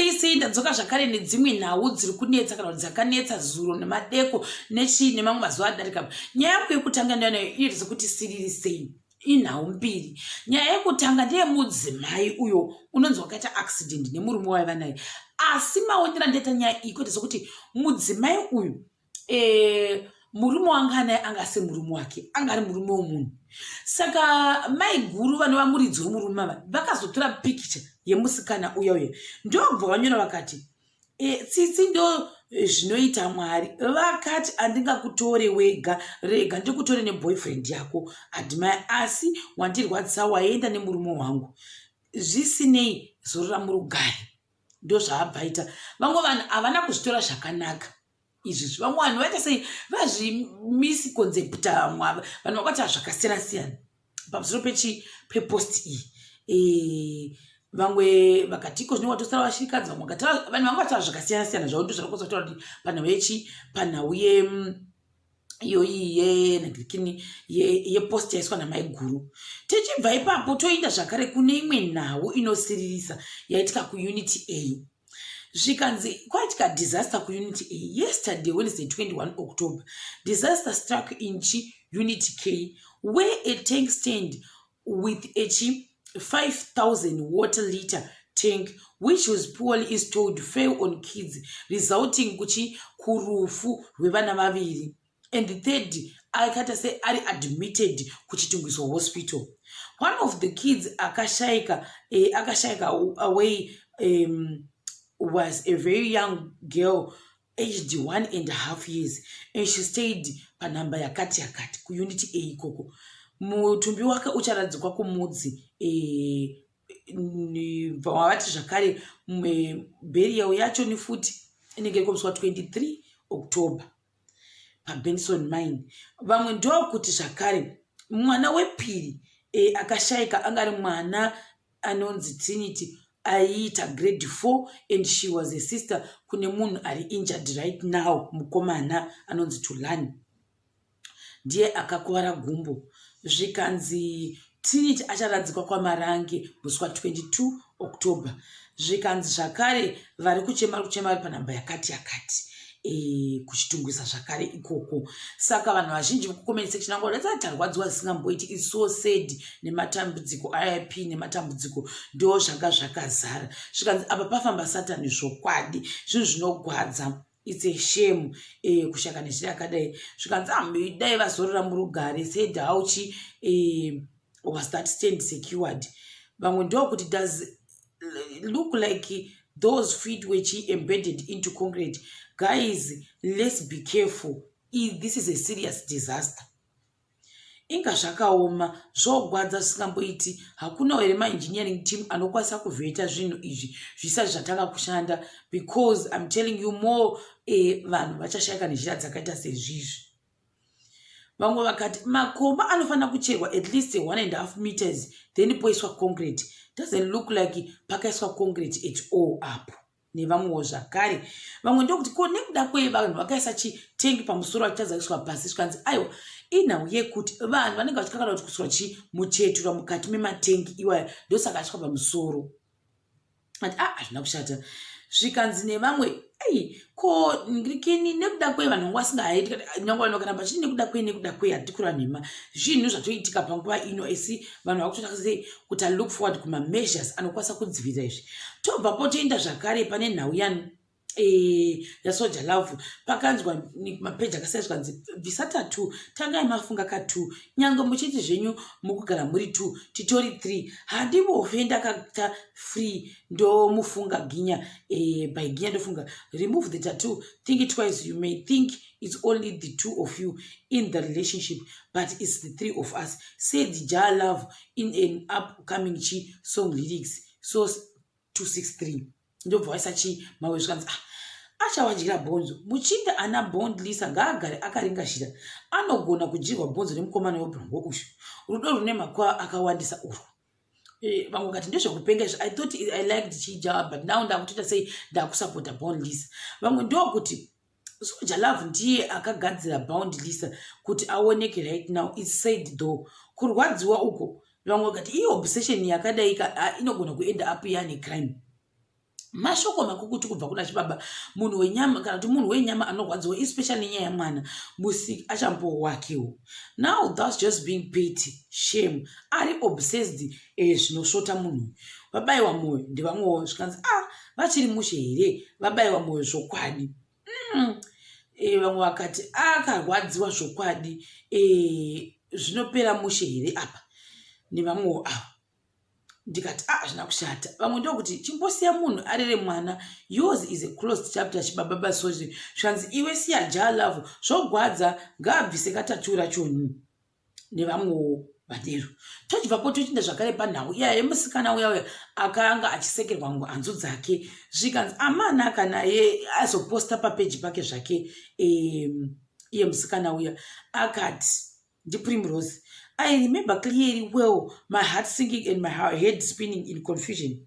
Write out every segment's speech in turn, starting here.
Tese ndadzoka zvakare nedzimwe nhau dziri kunetsa kana kuti dzakanetsa zuro nemadeko nechii nemamwe mazuva adarika nyaya yangu yekutanga ndanayo iri dzekuti siriri sei inhau mbiri nyaya yekutanga ndeyemudzimai uyo unonzi wakaita accident nemurume waiva naye asi maonera ndaita nyaya iyi kwete sekuti mudzimai uyu eh, murume wanga anaye anga asi murume wake anga ari murume womunhu saka mai guru vanova muridzi wemurume ava vakazotora pikicha yemusikana uya uya ndobva vanyora vakati e, tsitsi ndo eh, zvinoita mwari vakati andingakutore wega rega ndikutore neboyfriend yako adimai asi wandirwadzisa waenda nemurume wangu zvisinei zorora murugare ndozvaabvaita vamwe vanhu havana kuzvitora zvakanaka izvi zvivamwe vanhu vaita sei vazvimisi concept vamwe ava vanhu vakati hazvakasiyana siyana pamusoro pechi pepost iyi e, vamwe vakatiko zvine watosara vashirikadzi vamwe vakati vanhu vanga vati hazvakasiyana siyana zvavo ndo zvarakosa kutaura kuti panhau yechi panhau ye mm, iyoyi yenhikini yepost yaiswa namaiguru tichibva ipapo toenda zvakare kune imwe nhau inosiririsa yaitika kuunity a zvikanzi kwaitika disaster kuunity a yesterday wednesday 21 october disaster struck inchi unity k where a tank stand with a chi 5000 water liter tank which was poorly installed fail on kids resulting kuchi kurufu rwevana vaviri and third akaita se ari admitted kuchitungiswa hospital one of the kids akashaika eh, akashaika away um, was a very young girl aged one and half years and she stayed panhamba yakati yakati kuunity a ikoko mutumbi wake ucharadzikwa kumudzi eh, vavati zvakare berial yacho nefuti inenge ikomiswa 23 october pabenson mine vamwe ndokuti zvakare mwana wepiri e, akashaika angari mwana anonzi Trinity aiita grade 4 and she was a sister kune munhu ari injured right now mukomana anonzi Tulani ndiye akakuvara gumbo zvikanzi Trinity acharadzikwa kwaMarange musi wa 22 October zvikanzi zvakare vari kuchema kuchema vari panhamba yakati yakati Eh, kuchitungwisa zvakare ikoko saka vanhu vazhinji vekucomment section angu vadatsati tarwadziwa zisingamboiti is so sad nematambudziko ip nematambudziko ndo zvanga zvakazara zvikanzi apa pafamba satani zvokwadi zvinhu zvinogwadza its a shame eh, kushaka nezviri akadai zvikanzi amidai ah, vazorora murugare said hauchi eh, was that stand secured vamwe ndokuti does look like those feet were chi embedded into concrete guys let's be careful If this is a serious disaster inga zvakaoma zvogwadza zvisingamboiti hakuna here maengineering team anokwanisa kuvheta zvinhu izvi zvisati zvatanga kushanda because im telling you more eh, vanhu vachashayika nenzira dzakaita sezvizvi vamwe vakati makomba anofanira kucherwa at least one and half meters then poiswa concrete doesn't look like pakaiswa concrete at all apo nevamwewo zvakare vamwe ndokuti ko nekuda kwei vanhu vakaisa chitengi pamusoro vachitadza kuiswa pasi zvikanzi aiwa inhau yekuti vanhu vanenge vachikakana kuti kuswa chi muchetura mukati mematengi iwaya ndosaka aiswa pamusoro ati a ah, hazvina kushata zvikanzi nevamwe ei ko ndikini nekuda kwei vanhu vanga vasingahaiti nyange vanhu vakaramba chii nekuda kwei nekuda kwei hatikura nhema zvinhu zvatoitika panguva ino asi vanhu vakutotaa sei kuti alook forward kumameasures anokwanisa kudzivirira izvi tobva potoenda zvakare pane nhau yani Eh, yasoja love pakanzwa mapeji akasai zvikanzi bvisa tatu tangai mafunga ka two nyange muchiti zvenyu mukugara muri two titori three handivofe ndakata free ndomufunga ginya eh, by ginya ndofunga remove the tatu think it twice you may think it's only the two of you in the relationship but it's the three of us said ja love in an upcoming chi song lyrics so 263 ndobva waisa chii mawe zvikanzi ah achawadyira bhonzo muchinda ana bond lisa ngaagare akaringashira anogona kudyirwa bhonzo nemukomana webrongo uyu rudo rune makwaa akawandisa urwu eh, vamwe kati ndezvekupenga izvo i thought i liked chijawa but now ndakutoita sei ndakusapota bond lisa vamwe ndokuti soja love ndiye akagadzira bound lisa kuti aoneke right now its said though kurwadziwa uko vamwe vakati iyi obsession yakadaika ah, inogona kuenda up yane crime mashoko makukuti kubva kuna chibaba munhu wenyama kana kuti munhu wenyama anorwadziwa especially nenyaya yamwana musiki achambowo wakewo now thats just being pity shame ari obsessed eh, zvinosvota munhu vabayiwa mwoyo ndivamwewo zvikanzi ah vachiri mushe here vabaiwa mwoyo zvokwadi mm. e, vamwe vakati akarwadziwa zvokwadi e, zvinopera mushe here apa nevamwewo ava ndikati a ah, hazvina kushata vamwe ndokuti chimbosiya munhu arere mwana yours is a closed chapter chibababa sozi zvanzi iwe siya ja love zvogwadza ngaabvise katatura choni nevamwewo vadero tochibvapo tochiinda zvakare panhau iya yemusikana uya uya akanga achisekerwa ngo hanzu dzake zvikanzi amana kana ye azoposta papeji pake zvake um, iye musikana uya akati ndiprimrose i remember clearly well my heart sinking and my head spinning in confusion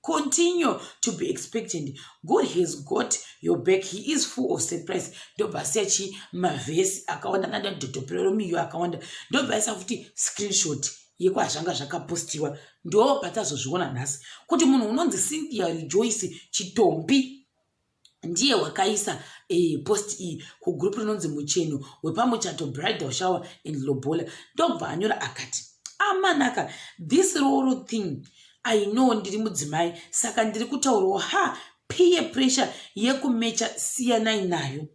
continue to be expectant god has got your back he is full of surprise ndobva asiya chii mavhesi akawanda kana ndadhotopereromiyo akawanda ndobva aisa futi screenshot yekwazvanga zvakapostiwa ndo patazozviona nhasi kuti munhu unonzi cynthia rejoice chitombi ndiye wakaisa eh, post iyi kugroup rinonzi mucheno wepamuchato bridal shower and lobola ndobva anyora akati amanaka ah, this roro thing i know ndiri mudzimai saka ndiri kutaurawo ha piye pressure yekumecha siyanai nayo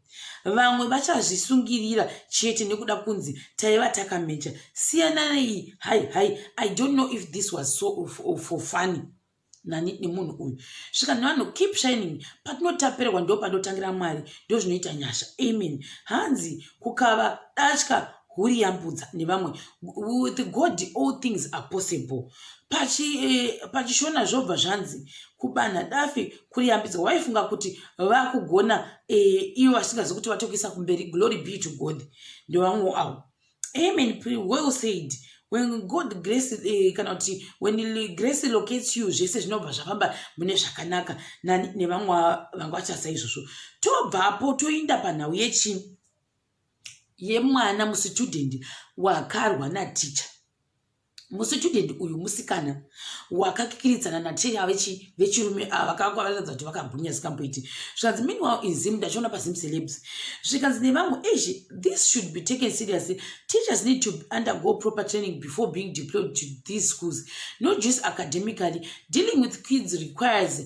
vamwe vachazvisungirira chete nekuda kunzi taiva takamecha siyanai hai hai i don't know if this was so for funny nani nemunhu uyu svika nevanhu keep shining patinotaperwa ndo panotangira mwari ndo zvinoita nyasha amen hanzi kukava datya huri yambudza nevamwe with god all things are possible pachishona eh, zvobva zvanzi kubanha dafi kuri yambidzwa waifunga kuti vakugona eh, ivo vasingazi kuti vatokuisa kumberi glory be to god ndevamwe avo amen well said when god grace eh, kana kuti when grace locates you zvese zvinobva zvafamba mune zvakanaka nevamwe vanga vachasa izvozvo tobvapo toinda panhau yechii yemwana musitudendi wakarwa naticha musitudent uyu musikana wakakikiridzana nateya vechirume ava vakanga vakaratidza kuti vakagwinya zikamboiti zvikanzi meanwhile in zim ndachiona pazim celebs zvikanzi nevamwe eish this should be taken seriously teachers need to undergo proper training before being deployed to these schools not just academically dealing with kids requires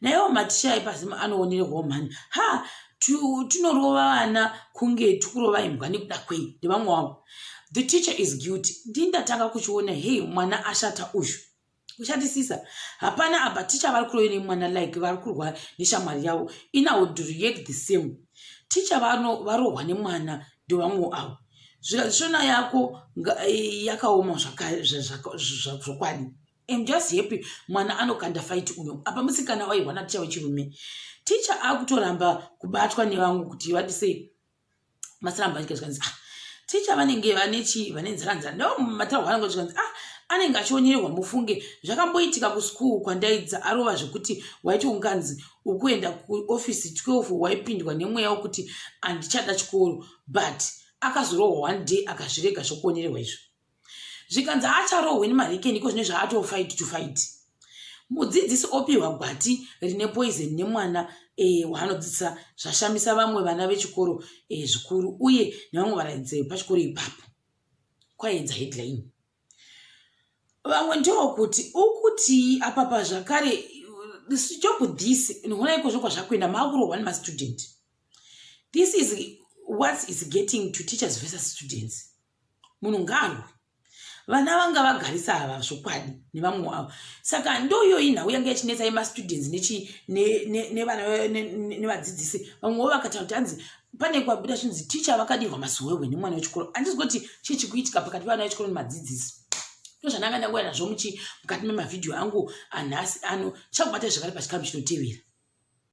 naiwo maticha epazimu anoonerwawo mhani ha tinorova vana kunge tikurova imbwa nekuda kwei ndevamwe wavo the teacher is guilty ndii ndatanga kuchiona hei mwana ashata uyu kushatisisa hapana apa ticha vari kurove nemwana like vari kurwa neshamwari yavo inawould react the same ticha varohwa nemwana ndevamwe avo zvikazvishona yako yakaoma zvokwadi I'm just happy mwana anokanda fight uyo apa musikana waihwa na ticha wechirume ticha akutoramba kubatwa nevangu kuti vati sei masiramba achika zvikanzi ah ticha vanenge vane chii vane nzara nzara ndo mataurwa anenge zvikanzi ah anenge achionyeerwa mufunge zvakamboitika kuschool kwandaidza arova zvekuti waiti unganzi ukuenda kuofisi 12 waipindwa nemweya wokuti handichada chikoro but akazorohwa one day akazvirega zvokuonererwa izvo zvikanzi haacharohwe nemahekeni iko zvine zvaatoo fight to fight mudzidzisi opihwa gwati rine poison nemwana e, waanodzidzisa zvashamisa vamwe vana vechikoro e, zvikuru uye nevamwe varaidzai vepachikoro ipapo kwaedza headline vamwe ndoo kuti ukuti apapa zvakare stop this nihona ikozvo kwazvakuenda maakurohwa nemastudent this is what is getting to teachers versus students munhu ngaarwe vana vanga vagarisa ava zvokwadi nevamwe wavo saka ndoyoyi nhau yanga yachinetsa yemastudents nevadzidzisi vamwewo vakataura kuti hanzi pane kwabuda zvinzi ticha vakadirwa masowewe nemwana wechikoro handizi kuti chii chikuitika pakati pevana vechikoro nemadzidzisi ndozvananga ndangouya nazvo muchi mukati memavhidhiyo angu anhasi ano chakubata zvakare pachikamu chinotevera